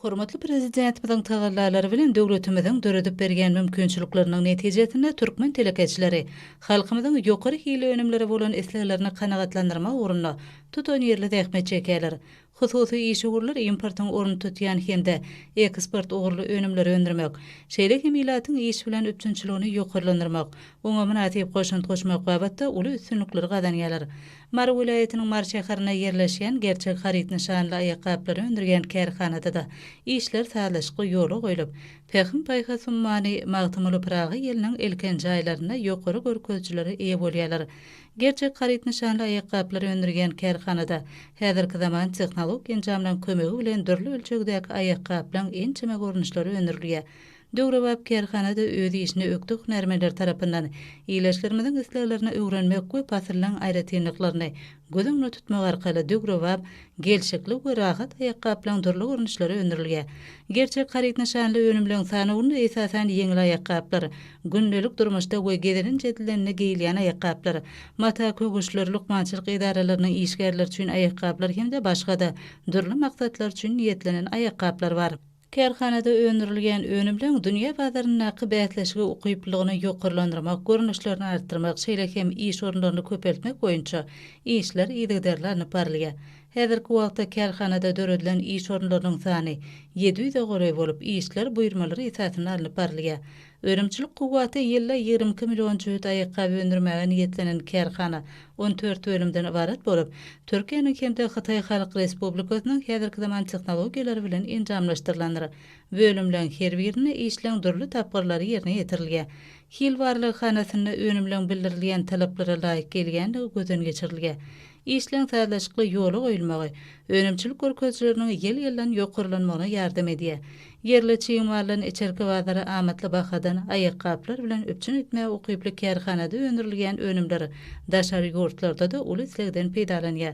Hormatly Prezidentimiziň tagallalary bilen döwletimiziň döredip berýän mümkinçilikleriniň netijesinde türkmen telekeçileri halkymyzyň ýokary hilli önümlere bolan isleglerini kanagatlandyrmak ugrunda tutanýerli zähmet çekýärler. Hususy işewürler importyň ornuny tutýan hem-de eksport ugurly önümleri öndürmek, şeýle hem ilatyň iş bilen üpjünçiligini ýokarlandyrmak, oňa mynasyp goşant goşmak babatda uly üstünlikleri gazanýarlar. Mary welaýatynyň Mary şäherinde ýerleşýän Gerçek haryt nyşanly aýakgaplary öndürýän kärhanada-da işler sazlaşykly ýola goýlup, Pähim-paýhas ummany Magtymguly Pyragy ýylynyň ilkinji aýlarynda ýokary görkezijilere eýe bolýarlar. Gerçek haryt nyşanly aýakgaplary öndürýän kärhanada häzirki zaman tehnologik enjamlaryň kömegi bilen dürli ölçegdäki aýakgaplaryň ençeme görnüşleri öndürilýär. Döwrebap kärhana-da öz işini ökde hünärmenler tarapyndan ilaçlarymyzyň isleglerini öwrenmek we pasyllaryň aýratynlyklaryny göz öňünde tutmak arkaly döwrebap, gelşikli we rahat aýakgaplaryň dürli görnüşleri öndürilýär. Gerçek haryt nyşanly önümleriň sanawynda esasan ýeňil aýakgaplar, gündelik durmuşda we gezelenç edilende geýilýän aýakgaplar, mata köwüşleri, lukmançylyk edaralarynyň işgärleri üçin aýakgaplar hem-de başga-da dürli maksatlar üçin niýetlenen aýakgaplar bar. Kärhanada öndürilýän önümleň dünýä bazaryndaky bäsleşige ukyplylygyny ýokarlandyrmak, görnüşlerini artdyrmak, şeýle hem iş orunlaryny köpeltmek boýunça işler yzygiderli alnyp barylýar. Häzirki wagtda kärhanada döredilen iş orunlarynyň sany ýedi ýüze golaý bolup, işler buýurmalar esasynda alnyp barylýar. Önümçilik kuwwaty ýylda ýigrimi iki million jübüt aýakgaby öndürmäge niýetlenen kärhana on dört bölümden ybarat bolup, Türkiýäniň hem-de Hytaý Halk Respublikasynyň häzirki zaman tehnologiýalary bilen enjamlaşdyrylandyr. Bölümleň her birinde işleň dürli tapgyrlary ýerine ýetirilýär. Hil barlaghanasynda önümleň bildirilýän talaplara laýyk gelýänligi gözden geçirilýär. Işleň sazlaşykly ýola goýulmagy önümçilik görkezijileriniň ýyl-ýyldan ýokarlanmagyna ýardam edýär. Ýerli çig maldan içerki bazary amatly bahadan aýakgaplar bilen üpjün etmäge ukyply kärhanada öndürilýän önümler daşary ýurtlarda-da uly islegden peýdalanýar.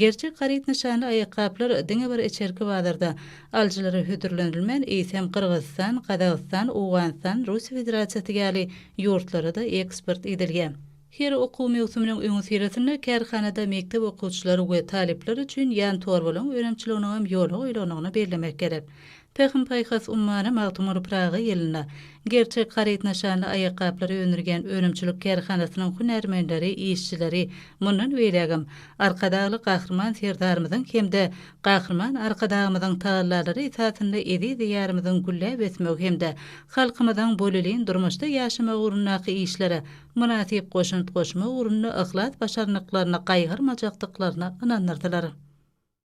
Gerçek haryt nyşanly aýakgaplar diňe bir içerki bazarda alyjylara hödürlenilmän, eýsem, Gyrgyzystan, Gazagystan, Owganystan, Russiýa Federasiýasy ýaly ýurtlara-da eksport edilýär. Her okuw möwsüminiň öňüsyrasynda kärhanada mekdep okuwçylary we talyplar üçin ýan torbalaryň önümçiliginiňem ýola goýlandygyny bellemek gerek. Pähim-paýhas ummany Magtymguly Pyragy ýylynda Gerçek haryt nyşanly aýakgaplary öndürýän önümçilik kärhanasynyň hünärmenleri, işçileri mundan beýlägem Arkadagly Gahryman Serdarymyzyň hem-de Gahryman Arkadagymyzyň tagallalary esasynda eziz Diýarymyzyň gülläp ösmegi hem-de halkymyzyň bolelin durmuşda ýaşamagy ugrundaky işlere mynasyp goşant goşmak ugrunda yhlas-başarnyklaryny gaýgyrmajakdyklaryna ynandyrdylar.